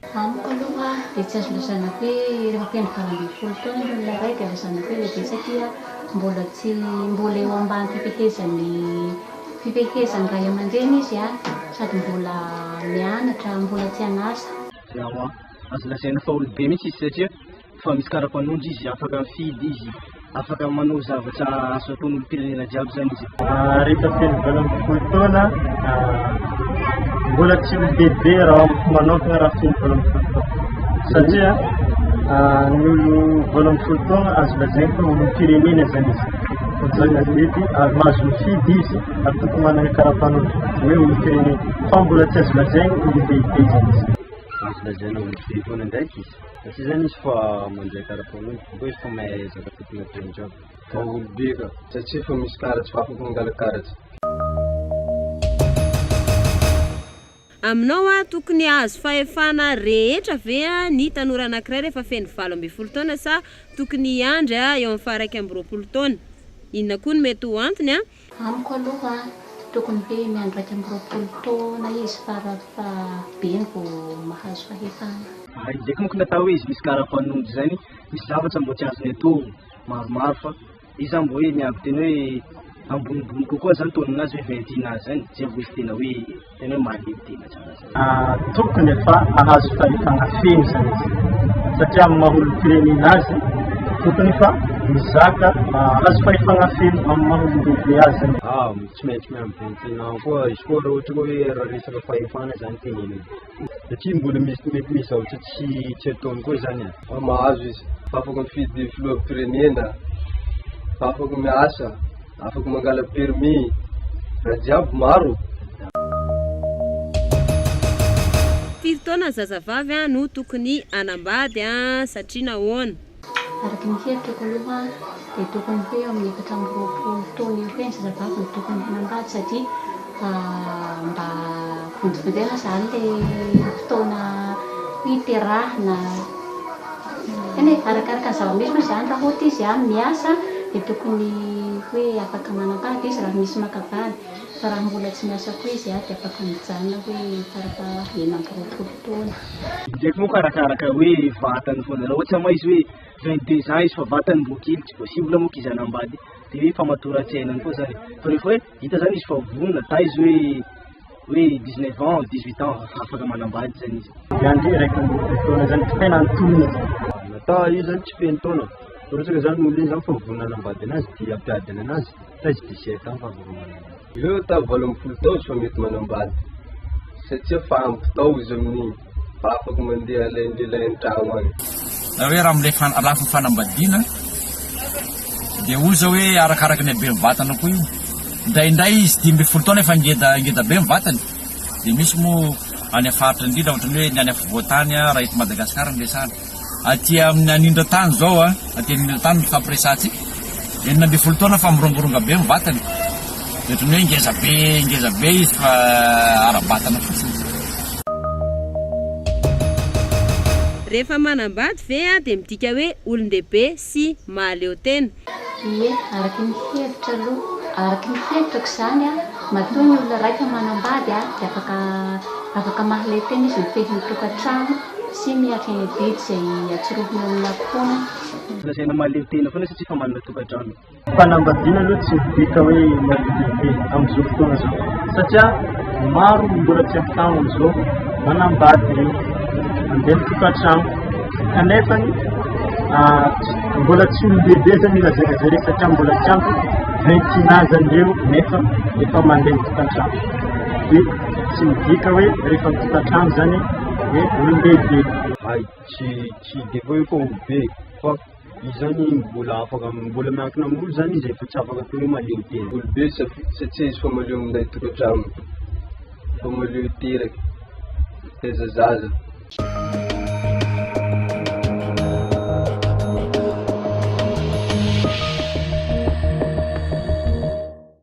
Amiko aloha dia tsy azo lazaina hoe rehefa feno valo ambin'ny folo taona ny olona iray dia lazaina hoe lehibe satria mbola tsy mbola eo ambany fifehezan'ny fifehezan-dray aman-dreny izy an, sady mbola mianatra, mbola tsy an'asa. Ewa, azo lazaina fa olo-be mihitsy izy satria Fa misy karapanondro izy afaka mifidy izy afaka manao zavatra azo ataon'ny olom-pirenena jiaby zany izy. Ah, rehefa telo valo amby folo taona ah, mbola tsy ho bebe raha amiko manokana raha telo valo amby folo taona satria ah, ny olo valo amby folo taona azo lazainy fa olom-pirenena zany izy zany azety ary mahazo mifidy izy ary tokony manana karapanondro hoe olom-pirenena fa mbola tsy azo lazainy olom-beibe zany izy azo lazaina olom-beibe foana ndraiky izy Fa tsy zany izy fa mandray karapanondro fa koa izy fa mahay ezaka tokony ataony jiaby. Daholo be ka, satria efa misy karatsy fa afaka mangala karatsy. Aminao aho tokony hahazo fahefana rehetra ve ny tanora anankiray rehefa feno valo ambin'ny folo taona sa tokony hiandry eo amin'ny faha iraika amby roapolo taona? Inona koa no mety ho antony? Amiko aloha tokony hoe miandry iraika amby roapolo taona izy fara fahabeny vao mahazo fahefana. Ary zay kmoko natao hoe izy misy kara panondro zay ny misy zavatra mbo tsy azony atao maromaro fa izy zany mbo hoe miaby tena hoe ambonimbony kokoa zany taoninazy hoe vingt et un ans zany zay vao izy tena hoe Tena hoe manidina tsara zay. Ah, tokony efa hahazo fahefana feno izany izy, satria amin'ny maha olom-pirenena azy, tokony efa mizaka mahazo fahefana feno amin'ny maha olon-dehibe azy zany. Ah, tsy maintsy miambin-tena ao koa izy koa raha ohatra hoe raha resaka fahefana zany tenenina, satria mbola misy mety misy zavatra tsy tsy ataony koa zany e. Ah, mahazo izy, afaka mifidy filoham-pirenena, afaka miasa. Afaka mangala permis raha jiaby maro. Firy taona zazavavy no tokony hanambady satria nahoana? Araka ny hevitrako aloha dia tokony ho eo amin'ny efatra amby roapolo taona eo ho eo ny zazavavy no tokony hanambady satria fa mba vontofontoina zany le fotoana hiterahana eny e, arakaraka ny zava-misy moa zany, raha ohatra izy an miasa de tokony hoe afaka manam-pahaka izy raha misy maka vady, fa raha mbola tsy miasa koa izy an de afaka mijanona hoe fara faha enina amby roapolo taona. Iny ndraiky moa ka arakaraka ny hoe vatany foana, raha ohatra moa izy hoe vingt deux ans izy fa vatany mbola kely tsy voasivona moa ka izy hanambady de hoe famatoran-tsaina any koa zany e, fa rehefa hoe Hita zany izy fa vonona, taiza hoe hoe dix neuf ans, dix huit ans afaka manambady zany izy. Zany zay raiky amby roapolo taona zany tsy tena antonony izy. Ata io zany tsy feno taona, fa raha ohatra zany ny olona io zany fa vonona hanambady anazy de hampiadina anazy, taiza dix sept ans fa afaka manambady. Aleo atao valo ambin'ny folo taona izy fa mety manambady, satria fa ampy tao izy amin'iny. Afaka mandeha lundi lundi aho any. Na hoe raha amin'ilay fana- lafiny fanambadiana dia hoy izao hoe arakaraka ny haben'ny vatana koa io. Indraindray izy dimy ambin'ny folo taona efa ngeda ngeda be ny vatany. Dia misy moa any amin'ny faritra indrindra ohatran'ny hoe ny any afovoan-tany raha eto Madagasikara no resahana. Aty amin'ny anindran-tany izao, aty anindran-tany nifampiresahantsika, enina ambin'ny folo taona fa mirongoronga be ny vatany, dia ohatran'ny hoe ngeza be ngeza be izy fa ara-batana fotsiny izay. Rehefa manambady ve dia midika hoe olon-dehibe? sy mahaleo tena? Ie, araka ny hevitra aloha, araka ny hevitrako izany an, matoa ny olona raika manambady dia afaka afaka mahaleo tena izy mifehy ny tokantrano sy mihatra ny adidy izay atsorohony eo amina foana. Lazaina mahaleo tena foana satria efa manana tokantrano. Fanambadiana aloha tsy midika hoe marobe amin'izao fotoana izao satria maro ny mbola tsy ampitahany amin'izao manambady ireny, mandeha mitokantrano kanefa mbola tsy olon-dehibe izany io lazaina izany hoe satria mbola tsy ampy vingt et un ans an'i ireo nefa efa mandeha mitokantrano, dia tsy midika hoe rehefa mitokantrano izany dia olon-dehibe. Hay, tsy tsy dia hoe efa olon-dehibe fa. Izy zany mbola afaka mbola miankina amin'olo zany izy efa tsy afaka atao hoe malemy be olo be satria izy efa maleo minday tokantrano efa maleo miteraky mitaiza zaza.